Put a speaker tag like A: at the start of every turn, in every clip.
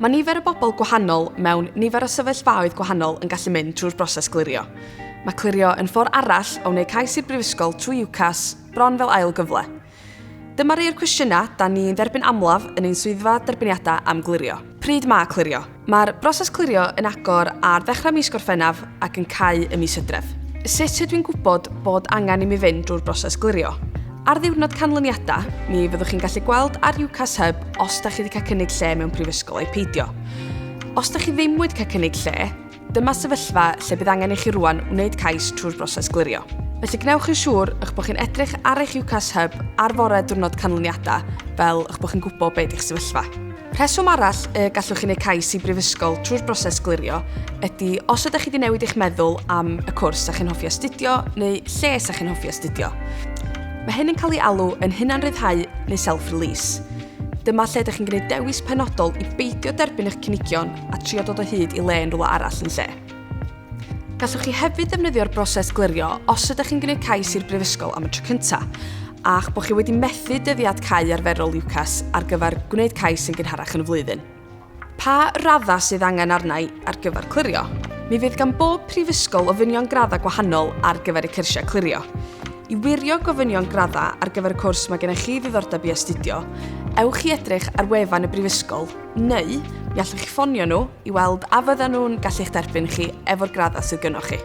A: Mae nifer y bobl gwahanol mewn nifer o sefyllfaoedd gwahanol yn gallu mynd trwy'r broses glirio. Mae clirio yn ffordd arall o wneud cais i'r brifysgol trwy UCAS bron fel ail gyfle. Dyma rei o'r cwestiynau da ni'n dderbyn amlaf yn ein swyddfa derbyniadau am glirio. Pryd mae clirio? Mae'r broses clirio yn agor ar ddechrau mis Gorffennaf ac yn cau y mis Hydref. Sut ydw i'n gwybod bod angen i mi fynd drwy'r broses glirio? Ar ddiwrnod canlyniadau, mi fyddwch chi'n gallu gweld ar UCAS Hub os da chi wedi cael cynnig lle mewn prifysgol ai peidio. Os da chi ddim wedi cael cynnig lle, dyma sefyllfa lle bydd angen i chi rwan wneud cais trwy'r broses glirio. Felly gwnewch yn siŵr eich bod chi'n edrych ar eich UCAS Hub ar fore diwrnod canlyniadau fel eich bod chi'n gwybod beth yw'ch sefyllfa. Rheswm arall y gallwch chi wneud cais i brifysgol trwy'r broses glirio ydy os ydych chi wedi newid eich meddwl am y cwrs a chi'n hoffi astudio neu lle sa chi'n hoffi astudio. Mae hyn yn cael ei alw yn hunanryddhau neu self-release. Dyma lle ydych chi'n gwneud dewis penodol i beidio derbyn eich cynigion a trio dod o hyd i le yn rhywle arall yn lle. Gallwch chi hefyd ddefnyddio'r broses glirio os ydych chi'n gwneud cais i'r Brifysgol am y tro cyntaf, a'ch bod chi wedi methu dyddiad cau arferol UCAS ar gyfer gwneud cais yn gynharach yn y flwyddyn. Pa raddau sydd angen arnau ar gyfer clirio? Mi fydd gan bob prifysgol ofynion graddau gwahanol ar gyfer y cyrsiau clirio. I wirio gofynion graddau ar gyfer y cwrs mae gennych chi ddiddordeb i astudio, ewch i edrych ar wefan y brifysgol neu mi allwch chi ffonio nhw i weld a fyddan nhw'n gallu'ch derbyn chi efo'r graddau sydd gynnwch chi.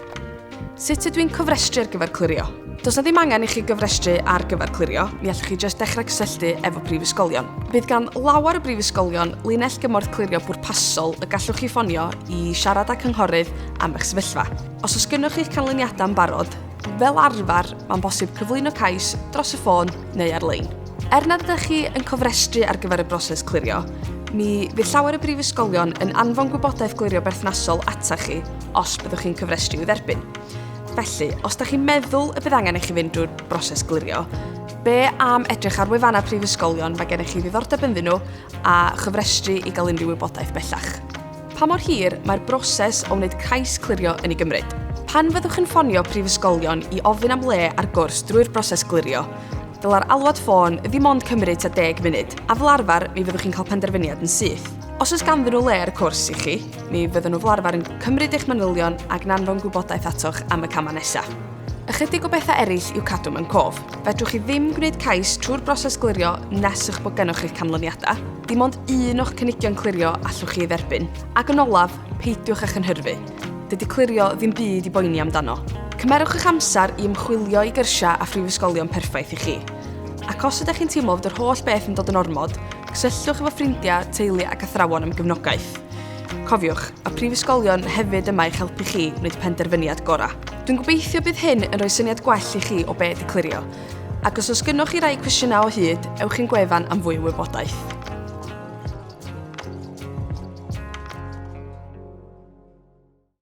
A: Sut ydw i'n cofrestru ar gyfer clirio? Does na ddim angen i chi gyfrestru ar gyfer clirio, mi allwch chi jyst dechrau cysylltu efo prifysgolion. Bydd gan lawer o brifysgolion linell gymorth clirio pwrpasol y gallwch chi ffonio i siarad â cynghorydd am eich sefyllfa. Os oes gynnwch chi'ch canlyniadau yn barod, fel arfer mae'n bosib cyflwyno cais dros y ffôn neu ar-lein. Er nad ydych chi yn cofrestru ar gyfer y broses clirio, mi fydd llawer o brifysgolion yn anfon gwybodaeth glirio berthnasol ata chi os byddwch chi'n cyfrestru i'w dderbyn. Felly, os da chi'n meddwl y bydd angen i chi fynd drwy'r broses glirio, be am edrych ar wefannau prifysgolion mae gennych chi ddiddordeb ynddyn nhw a chyfrestru i gael unrhyw wybodaeth bellach. Pa mor hir mae'r broses o wneud cais clirio yn ei gymryd? Pan fyddwch yn ffonio prifysgolion i ofyn am le ar gwrs drwy'r broses glirio, dylai'r alwad ffôn ddim ond cymryd tua deg munud, a fel arfer mi fyddwch chi'n cael penderfyniad yn syth. Os oes ganddyn nhw le ar y cwrs i chi, mi fyddan nhw fel arfer yn cymryd eich manylion ac yn anfon gwybodaeth atoch am y camau nesaf. Ychydig o bethau eraill i'w cadw mewn cof. Fedrwch chi ddim gwneud cais trwy'r broses glirio nes eich bod gennych chi'ch canlyniadau. Dim ond un o'ch cynigion clirio allwch chi ei dderbyn. Ac yn olaf, peidiwch â chynhyrfu. Dydy clirio ddim byd i boeni amdano. Cymerwch eich amser i ymchwilio i gyrsiau a phrifysgolion perffaith i chi. Ac os ydych chi'n teimlo fod yr holl beth yn dod yn ormod, cysylltwch efo ffrindiau, teulu ac athrawon am gefnogaeth. Cofiwch, mae prifysgolion hefyd yma i'ch helpu chi wneud y penderfyniad gorau. Dwi'n gobeithio bydd hyn yn rhoi syniad gwell i chi o beth i clirio. Ac os oes gynnwch chi rai cwestiynau o hyd, ewch i'n gwefan am fwy o wybodaeth.